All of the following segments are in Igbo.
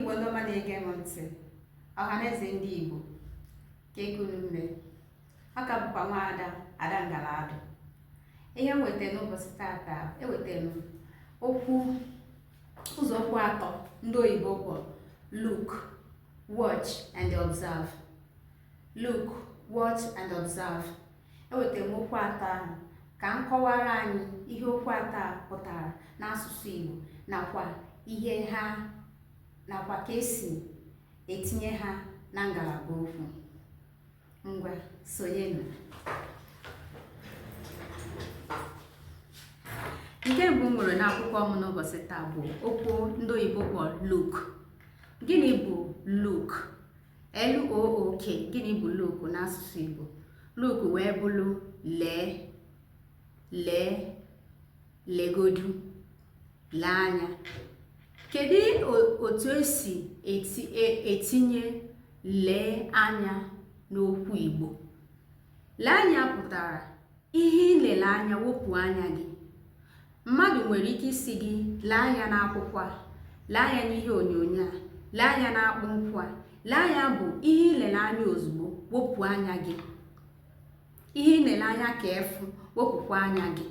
Igbo ndị ọma na-ege m ntị ọhanaeze ndị Igbo kee ka unu mee ọ ka bụkwa nwaada ada ngala adụ ihe m weta n'ụbọchị tata ewetara m okwu ụzọ okwu atọ ndị oyibo kpọrọ look watch and observe Look, watch and observe. Ewetara m okwu atọ ahụ ka m kọwara anyị ihe okwu atọ a pụtara n'asụsụ Igbo nakwa ihe ha nakwa ka esi etinye ha na ngalaba okwu. Ngwa sonyenụ. Nke mbụ m nwere n'akwụkwọ m n'ụbọchị taa bụ okwu ndị oyibo kpọrọ look. Gịnị bụ look? L O O K gịnị bụ look n'asụsụ Igbo look wee bụrụ lee lee legodu lee anya kedu otu esi e, etinye lee anya n'okwu Igbo lee anya pụtara Ihe i lele anya wepụ anya gị. Mmadụ nwere ike ịsị gị lee anya n'akwụkwọ a, lee anya n'ihe onyonyo a, lee anya n'akpụ nkwụ a. Lee anya bụ ihe i lele anya ozugbo wepụ anya gị. Ihe i lele anya ka efu wepụkwa anya gị.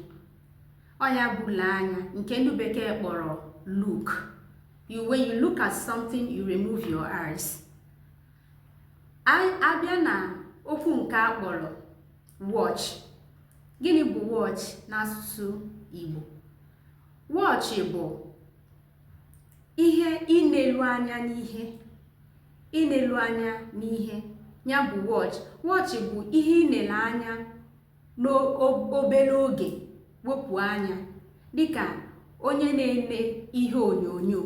Ọ ya bụ lee anya nke ndị bekee kpọrọ look. You, when you look at something, you remove your eyes. A bịa na okwu nke a kpọrọ watch gịnị bụ watch n'asụsụ Igbo watch bụ ihe inelu anya n'ihe inelu anya n'ihe ya bụ watch watch bụ ihe i nele anya n'obere oge wepụ anya dịka onye na-ene ihe onyonyo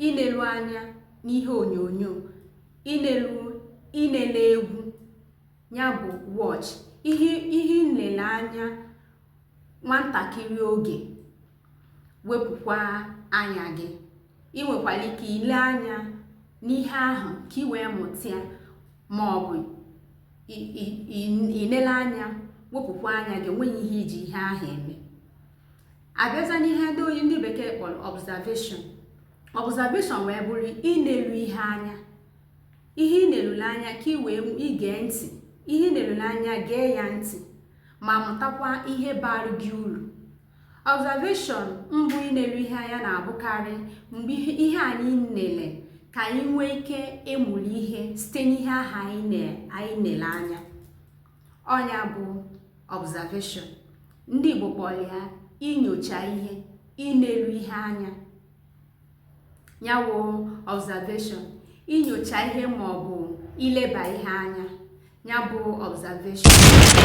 inelu anya n'ihe onyonyo inelu inele egwu ya bụ watch ihe i nele anya nwantakịrị oge wepụkwa anya gị ị nwekwara ike ile anya n'ihe ahụ ka ị wee mụta ya ma ọ bụ inele anya wepụkwa anya gị enweghị ihe i ji ihe ahụ eme a bịaza n'ihe ndị oyi ndị bekee kpọrọ observation observation wee bụrụ inelu ihe anya ihe i nelule anya ka ị wee ige ntị ihe i nelule anya gee ya ntị ma mụtakwa ihe bara gị uru observation mbụ inelu ihe anya na-abụkarị mgbe ihe anyị nele ka anyị nwee ike ịmụrụ ihe site n'ihe ahụ anyị nele anya ọ nya bụ observation ndị Igbo kpọrọ ya inyocha ihe inelu ihe anya ya wụ observation inyocha ihe ma ọ bụ ileba ihe anya ya bụ observation